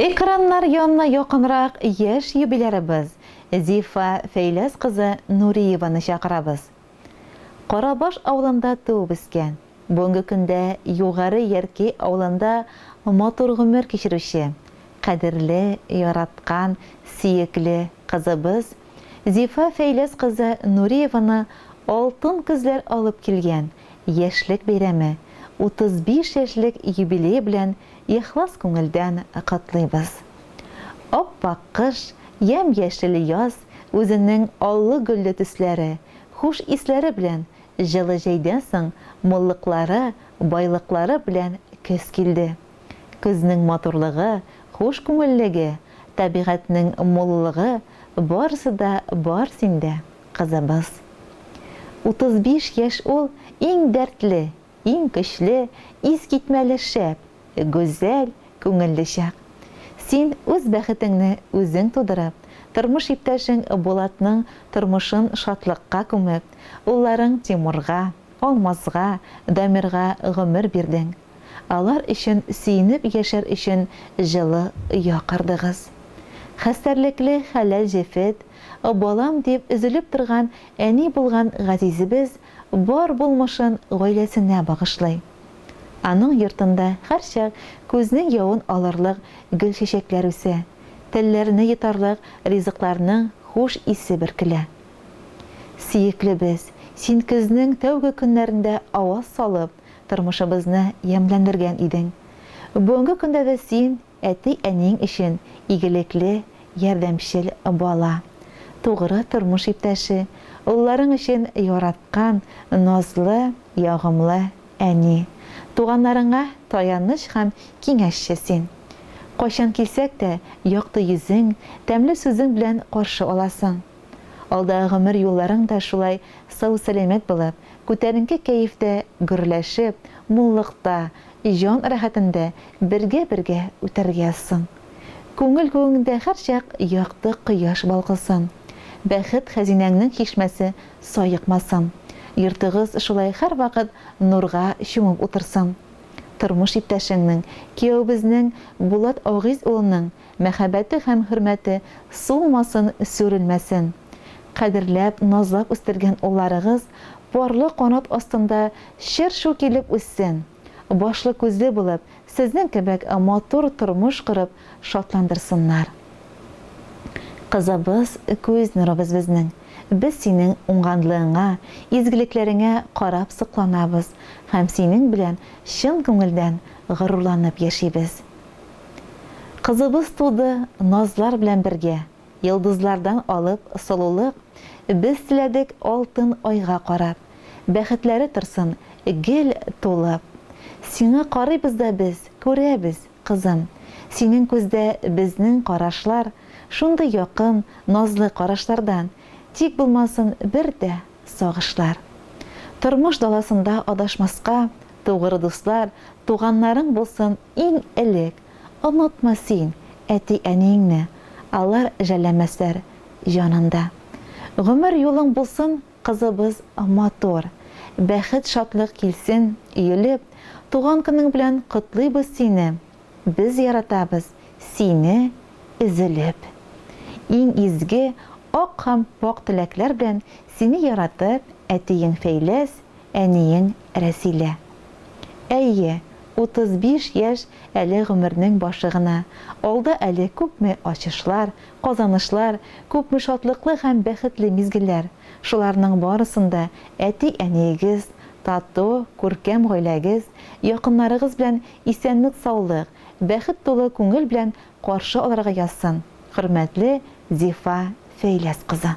Экраннар янына якынрак яшь юбилярыбыз Зифа Фәйләс кызы Нуриеваны чакырабыз. Карабаш авылында туып-үскән, бүгенге көндә Югары Ярки авылында матур гомер кичерүче, кадерле, яраткан, сөекле кызыбыз Зифа Фәйләс кызы Нуриеваны алтын көзләр алып килгән яшьлек бәйрәме, 35 яшьлек юбилее белән ихлас күңелдән котлыйбыз. Ап-ак кыш, ямь-яшел яз, үзенең аллы-гөлле төсләре, хуш исләре белән җылы җәйдән соң муллыклары, байлыклары белән көз килде. Көзнең матурлыгы, хуш күңеллеге, табигатьнең муллыгы, барысы да бар синдә, кызыбыз. 35 яшь ул иң дәртле, Иң көчле, искитмәле шәп, гүзәл, күңелле чак. Син үз бәхетеңне үзең тудырып, тормыш иптәшең Булатның тормышын шатлыкка күмеп, улларың Тимурга, Алмазга, Дамирга гомер бирдең. Алар өчен сөенеп яшәр өчен җылы оя кордыгыз. Хәстәрлекле хәләл җефет, балам дип өзелеп торган әни булган газизебез Бар булмышын гаиләсенә багышлый. Аның йортында һәрчак күзнең явын алырлык гөлчәчәкләр үсә, телләрне йотарлык ризыкларның хуш исе бөркелә. Сөеклебез, син көзнең тәүге көннәрендә аваз салып, тормышыбызны ямьләндергән идең. Бүгенге көндә дә син, Әти-әниең өчен игелекле, ярдәмчел бала, тугры тормыш иптәше, улларың өчен яраткан, назлы, ягымлы әни. Туганнарыңа таяныч һәм киңәшче син. Кайчан килсәк тә, якты йөзең, тәмле сүзең белән каршы аласың. Алдагы гомер юлларың да шулай сау-сәламәт булып, күтәренке кәефтә гөрләшеп, муллыкта, Җан рәхәтендә бергә-бергә үтәргә язсын. Күңел күгеңдә һәрчак якты кояш балкысын. Бәхет хәзинәңнең чишмәсе саекмасын. Йортыгыз шулай һәрвакыт нурга чумып утырсын. Тормыш иптәшеңнең, кияүебезнең Булат Агиз улының мәхәббәте һәм хөрмәте сулмасын, сүрелмәсен. Кадерләп, назлап үстергән улларыгыз парлы канат астында чыр-чу килеп үссен, башлы-күзле булып, сезнең кебек матур тормыш корып шатландырсыннар. Кызыбыз, күз нурыбыз безнең. Без синең уңганлыгыңа, изгелекләреңә карап сокланабыз һәм синең белән чын күңелдән горурланып яшибез. Кызыбыз туды, назлар белән бергә, Йолдызлардан алып солылык, Без теләдек алтын айга карап, Бәхетләре торсын гел тулып. Сиңа карыйбыз да без, күрәбез, кызым, Синең күздә безнең карашлар Шундый якын, назлы карашлардан Тик булмасын бер дә сагышлар. Тормыш даласында адашмаска, Тугры дуслар, туганнарың булсын иң элек. Онытма син әти-әниеңне, Алар жәлләмәсләр җаныңда. Гомер юлың булсын, кызыбыз, матур, Бәхет-шатлык килсен, өелеп, Туган көнең белән котлыйбыз сине, Без яратабыз сине өзелеп. Иң изге, ак һәм пакъ теләкләр белән Сине яратып, әтиең Фәйләс, Әниең Рәсилә. Әйе, 35 яшь әле гомернең башы гына. Алда әле күпме ачышлар, казанышлар, күпме шатлыклы һәм бәхетле мизгелләр. Шуларның барысын да әти-әниегез, тату, күркәм гаиләгез, якыннарыгыз белән исәнлек-саулык, бәхет тулы күңел белән каршы алырга язсын, хөрмәтле Зифа Фәйләс кызы.